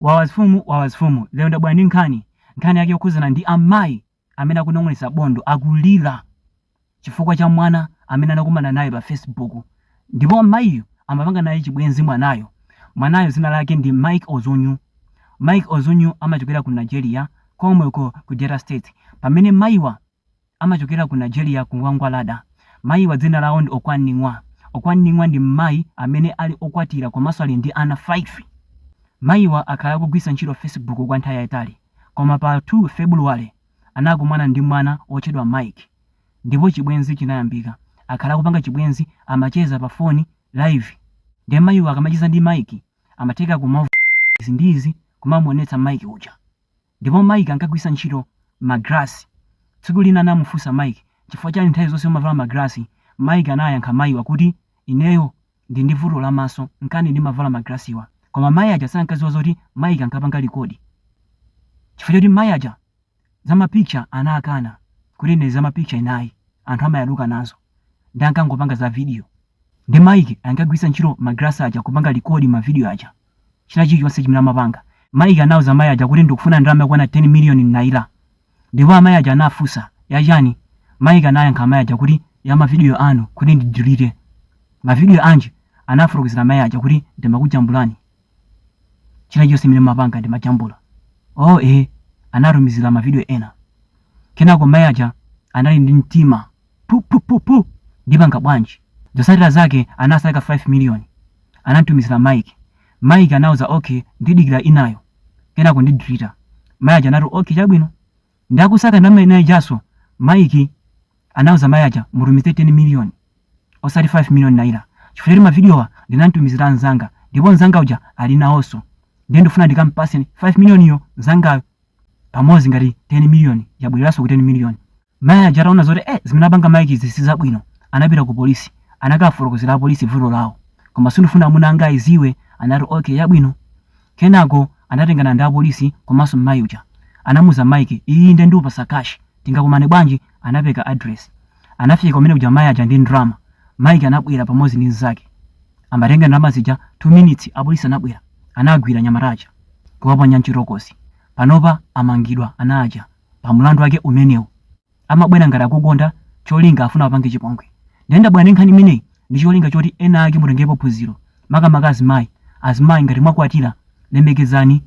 Wawazfumu Wawazfumu lero ndabwera ndi nkhani, nkhani yake yokhuzana ndi amayi amene akunong'onesa bondo akulira chifukwa cha mwana amene anakumana naye pa facebook ndipo mayiyu amapanga naye chibwenzi mwanayo, mwanayo zina lake ndi Mike Ozunyu, Mike Ozunyu amachokera ku Nigeria komweko ku Delta state pamene mayiwa. amachokera ku Nigeria ku Gwangwalada. Mayiwa dzina lawo ndi Okwaningwa. Okwaningwa ndi mmayi amene ali okwatira komanso ali ndi ana 5. Mayiwa akhala akugwisa ntchito facebook kwa nthawi yayitali koma pa 2 Febuluwale anakumana ndi mwana wotchedwa Mike ndipo chibwenzi chinayambika. Akhala akupanga chibwenzi, amacheza pa foni live nde mayiwa akamacheza ndi Mike amatheka kumavula izi ndi izi kumamuonetsa Mike uja. Ndipo Mike ankagwiritsa ntchito ma glass. Tsiku lina anamufunsa Mike, Chifukwa chani nthawi zonse umavala ma glass? Mike anayankha mayiwa kuti, Ineyo ndili ndi vuto la maso nkana ndimavala ma glass wa. Koma mayi aja sankadziwa zoti Mike ankapanga record. Chifukwa choti mayi aja za ma picture anakana kuti ine za ma picture ine ayi, anthu amayaluka nazo. Nde ankangopanga za video. Nde Mike ankagwiritsa ntchito ma glass aja kupanga record ma video aja. china chilichonse chimene amapanga. Mike anauza amayi aja kuti ndikufuna ndalama yokwana 10 miliyoni naira ndipo amayi aja anafunsa yachani? Mike anayankha amayi aja kuti ya mavidiyo anu kuti ndidilite. Mavidiyo anji? Anafotokozera amayi aja kuti ndimakujambulani. China chilichonse chimene mumapanga ndimajambula. Oh eeh! Anatumizira mavidiyo ena. Kenako mayi aja anali ndi mtima pupupupu ndipanga bwanji zotsatira zake anasaka 5 million anantumizira mike mike anauza okay ndidikira inayo kenako ndidilita mayi aja anati okay chabwino ndakusaka ndalama ina ijaso mike anauza mayi aja mutumize 10 million osati 5 million naira chifukwa choti mavidiyowa ndinamtumizira mzanga ndipo mzanga uja ali nawonso ndiye ndifuna ndikampase 5 million iyo mzangayo pamodzi ngati 10 million yabwereranso ku 10 million Mayi aja ataona zoti eh, zimene apanga Mike'zi si zabwino, anapita ku polisi. Anakafotokozera apolisi vuto lawo. Koma sindifuna amuna anga aziwe, anati okay yabwino. Kenako anatengana ndi apolisi komanso mmayi uja. Anamuza Mike, iyi nde ndikupasa cash, tingakumane bwanji? Anapereka address. Anafika kumene kuja mayi aja ndi ndalama. Mike anabwera pamodzi ndi mnzake. Amatenga ndalama zija 2 minutes apolisi anabwera. Anagwira anyamata aja kuwaponya m'chitolokosi. Panopa amangidwa ana aja. pa mlandu wake umenewu amabwera ngati akukonda cholinga afuna apange chipongwe ndiye ndabwera ndi nkhani imeneyi ndi cholinga choti ena ake mutengepo phunziro makamaka azimayi azimayi ngati mwakwatira lemekezani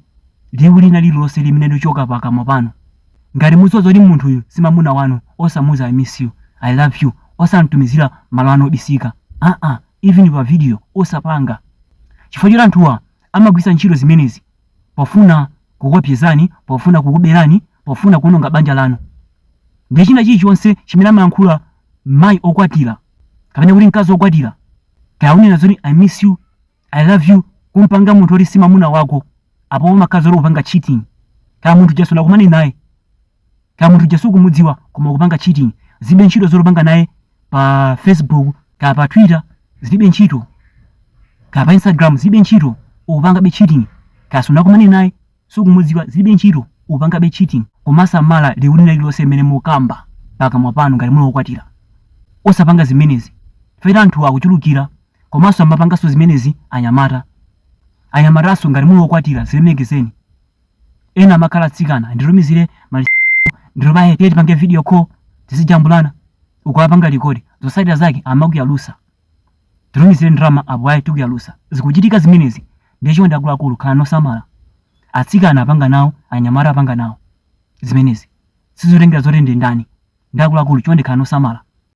liwu lina lililonse limene lichoka pakamwa panu ngati mudziwa zoti munthuyu si mamuna wanu osamuza i miss you i love you osamtumizira malo anu obisika aa even pa video osapanga chifukwa choti anthuwa amagwiritsa ntchito zimenezi pofuna kukuopsezani, pofuna kukuberani, pofuna kuononga banja lanu ndi china chilichonse chimene amayankhula mayi okwatira kapena kuti mkazi okwatira kaya unena zoti i miss you i love you kumpanga munthu oti si mamuna wako apo umakhala uli kupanga cheating kaya munthu uja sunakumane naye kaya munthu uja sukumudziwa koma kupanga cheating zibe ntchito zoti ukupanga naye pa facebook kaya pa twitter zilibe ntchito kaya pa instagram zilibe ntchito ukupangabe cheating kaya sunakumane naye sukumudziwa zilibe ntchito ukupangabe cheating kumasamala liwu lina lililonse limene mukamba pakamwa panu ngati muli okwatira osapanga zimenezi chifukwa anthu akuchulukira komanso amapanganso zimenezi anyamata anyamatanso ngati muli okwatira zilemekezeni ena amakhala atsikana nditumizire maliseche ndiye bae tiye tipange video call tizijambulana ukapanga likodi zotsatira zake amakuyalusa titumizire ndalama apo ayi tikuyalusa zikuchitika zimenezi ndiye chonde akuluakulu khalani osamala atsikana apanga nawo anyamata apanga nawo zimenezi sizotengera zoti ndi ndani ndi akuluakulu chonde khalani osamala